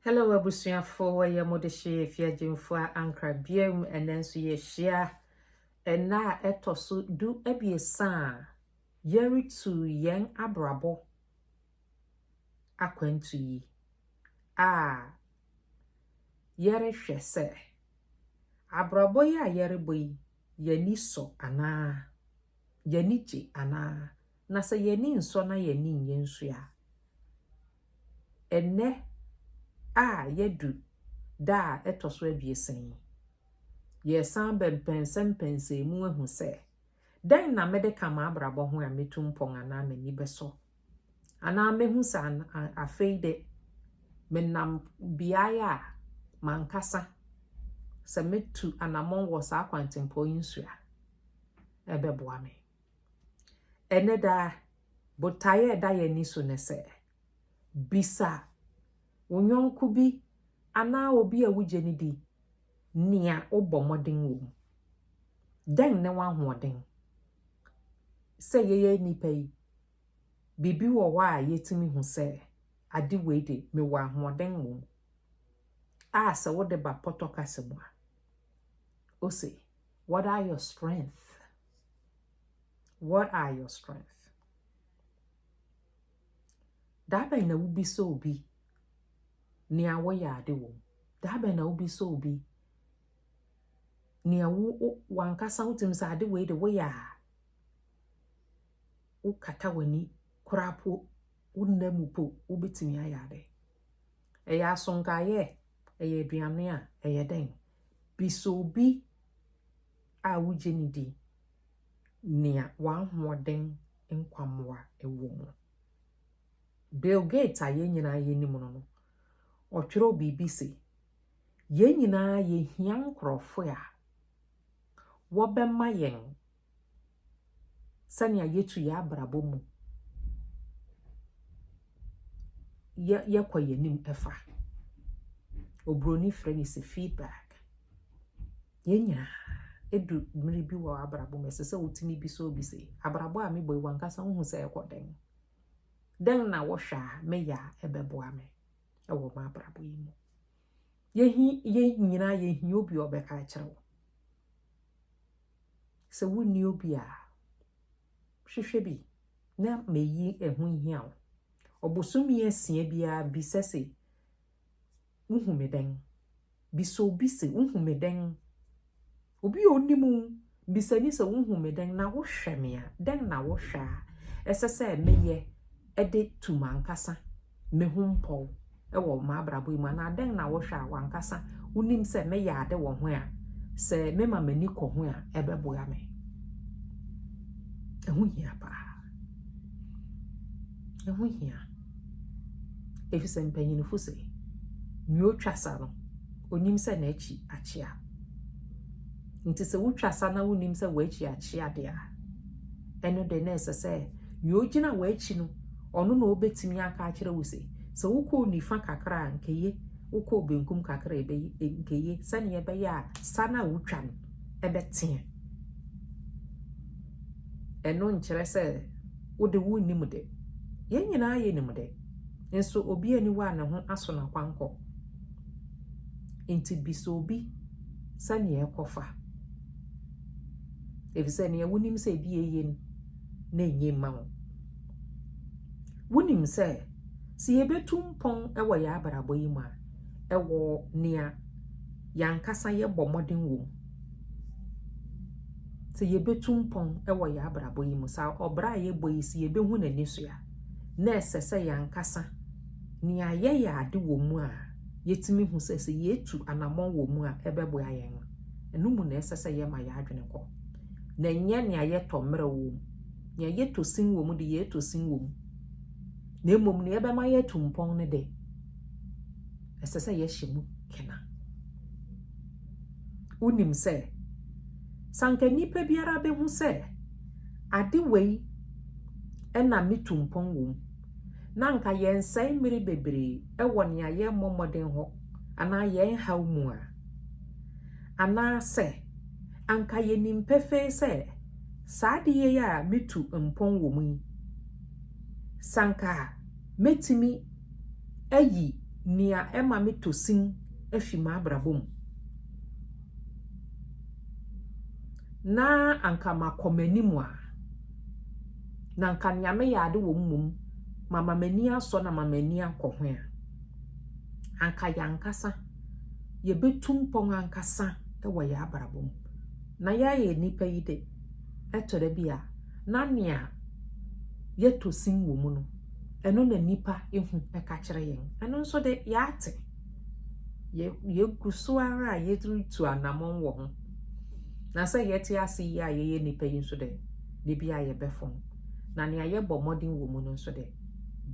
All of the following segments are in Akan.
Hello abusuafo wɔyɛ mo de hye efi agyemfo a ankra biam ɛnɛ nso yɛhyia ɛna a ɛtɔ so du abiɛsa a yɛretu yɛn abrabɔ akwantu yi a yɛrehwɛ sɛ abrabɔ yi a yɛrebɔ yi yɛni sɔ anaa yɛni gye anaa na sɛ yɛni nsɔ na yɛni nyɛ nsu a Ɛnnɛ a yɛadu da a ɛtɔ so abiɛsa yi, yɛresan ba mpɛnsɛ mpɛnsɛɛ mu ahu sɛ, dɛn na mede ka m'abrabɔ ho a metu mpɔn anaa m'ani bɛsɔ? Anaa mehu sɛ afei de, menam beaeɛ a m'ankasa sɛ metu anammɔn wɔ saa kwantempɔn yi nso a, ɛbɛboa me? Ɛnnɛ da, botae a ɛda yɛn ani so ne sɛ, bisa wo yɔnko bi anaa obi a wugye no di nea wobɔ mmɔden wom. Dɛn ne w'ahoɔden? Sɛ yɛyɛ nnipa yi, biribi wɔ hɔ a yetumi hu sɛ ade wei de mewɔ ahoɔden wom a sɛ wode ba pɔtɔ kasa mu a, ose, What are your strengths? What are your strengths? That bɛn na wobi sɛ obi nea woyɛ ade wɔ mu daa bɛn na wobi sɛ obi nea wo wankasa wotumi sɛ ade wei de woyɛ a wokata w'ani koraa po wo nna mu po wobɛtumi ayɛ ade ɛyɛ asonkaeɛ ɛyɛ aduane a ɛyɛ dɛn Bi sɛ obi a wogye no di nea w'ahoɔden nkwammoa wɔ mu. Bill Gates a yɛn nyinaa yɛnim no no, ɔtwerɛw biribi se, yɛn nyinaa yɛhia nkurɔfo a wɔbɛma yɛn sɛnea yɛtu yɛn abrabɔ mu yɛ yɛkɔ yɛn anim ɛfa oburoni frɛ no sɛ feedback yɛn nyinaa edu mmiri bi wɔ abrabɔ mu ɛsɛ sɛ wotumi bi sɛ obi sɛ abrabɔ a mebɔ yi wankasa wohu sɛ ɛkɔ dɛn dɛn na wɔhwɛ a meyɛ a ɛbɛboa me ɛwɔ m'abrabɔ yi mu yɛhi yɛn nyinaa yɛhia obi a ɔbɛka akyerɛ wo Sɛ wonni obi a, hwehwɛ bi na mayi ɛho nhia wo. Ɔbosome asia biara bisa se, Wohu me dɛn? Bisa obi se, Wohu me dɛn? Obi a onim wo bisa ni sɛ, Wohu me dɛn? Na wohwɛ me a, dɛn na wohwɛ a ɛsɛ sɛ meyɛ de tu m'ankasa me ho mpɔw wɔ m'abrabɔ mu anaa dɛn na wohwɛ a wankasa wonim sɛ meyɛ ade wɔ ho a sɛ mema m'ani kɔ ho a ɛbɛboa me ɛho hia paa ɛho hia efisɛ mpanyinfo sɛ nea otwa sa no onim sɛ n'akyi akyea nti sɛ wotwa sa na wonim sɛ w'akyi akyea de a ɛno de na ɛsɛ sɛ nea ogyina w'akyi no Ɔno na ɔbɛtumi aka akyerɛ wo se, sɛ wokɔɔ nifa kakra a, anka eye, wokɔɔ benkum kakra a, anka eye, sɛdeɛ ɛbɛyɛ a sa no a wotwa no bɛteɛ. Ɛno nkyerɛ sɛ wode wonnim de. Yɛn nyinaa yɛnim de. Nso obi ani wɔ a ne ho aso no akwankɔ. Nti bisa obi sɛdeɛ ɛkɔfa. Ɛfiri sɛ nea wonim sɛ ebi eye no, na enye mma wo. Wonim sɛ, sɛ yɛbɛtu mpɔn wɔ yɛn abrabɔ yi mu a, ɛwɔ nea yɛn ankasa yɛbɔ mmɔden wɔ mu. Sɛ yɛbɛtu mpɔn wɔ yɛn abrabɔ yi mu, sɛ ɔbra a yɛbɔ yi si yɛbɛhu n'ani so a, na ɛsɛ sɛ yɛn ankasa nea yɛyɛ ade wɔ mu a yɛtumi hu sɛ sɛ yɛtu anammɔn wɔ mu a ɛbɛboa yɛn no, ɛno mu na ɛsɛ sɛ yɛma yɛn adwene kɔ. Na ɛnyɛ nea yɛtɔ mmerɛ wɔ mu. Nea yɛtɔ sin wɔ mu de, yɛretɔ sin wɔ mu, na mmom nea ɛbɛma yɛatu mpɔn no de, ɛsɛ sɛ yɛhyɛ mu kena. Wonim sɛ, sɛ anka nnipa biara behu sɛ ade wei na metu mpɔn wɔ mu, na anka yɛnsɛe mmere bebree wɔ nea yɛmmɔ mmɔden hɔ anaa yɛn haw mu a, anaasɛ anka yenim pefee sɛ Saa adeyɛ yi a mitu mpɔn wɔ mu yi, sɛ anka metumi ayi nea ɛma mitɔ sin afi m'abrabɔ mu na anka makɔ m'anim a, na anka nea meyɛ ade wɔ mmom mama m'ani asɔ na mama m'ani akɔ ho a, anka yɛn ankasa yebetu mpɔn ankasa wɔ yɛn abrabɔ mu. na yɛayɛ nnipa yi de, ɛtɔ da bi a, na nea yɛtɔ sin wɔ mu no, ɛno na nnipa ehu ɛka kyerɛ yɛn. Ɛno nso de, yɛate. Yɛgu so ara a yɛretu anamɔn wɔ ho. Na sɛ yɛte ase yi a yɛyɛ nnipa yi nso de, de bi a yɛbɛfɔn. Na nea yɛbɔ mmɔden wɔ mu no nso de,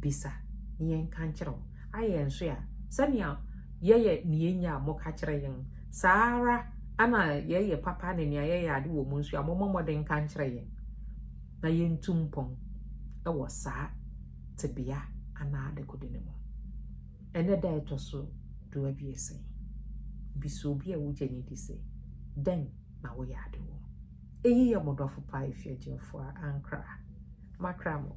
bisa na yɛnka nkyerɛ wo. Ayɛ nso a, sɛnea yɛyɛ nea enya a moka kyerɛ yɛn Saa ara na yɛyɛ papa ne nea yɛyɛ ade wɔ mu nso a, mommɔ mmɔden nka nkyerɛ yɛn na yɛntu mpɔn wɔ saa tebea anaa dekode no mu. Ɛnɛ da ɛtɔ so du abiɛsa yi, bisa obi a wogye no di sɛ, Dɛn na woyɛ ade wɔ? Eyi yɛ mo dɔfo paa Efiagyinfoɔ a Ankra. Makra mo.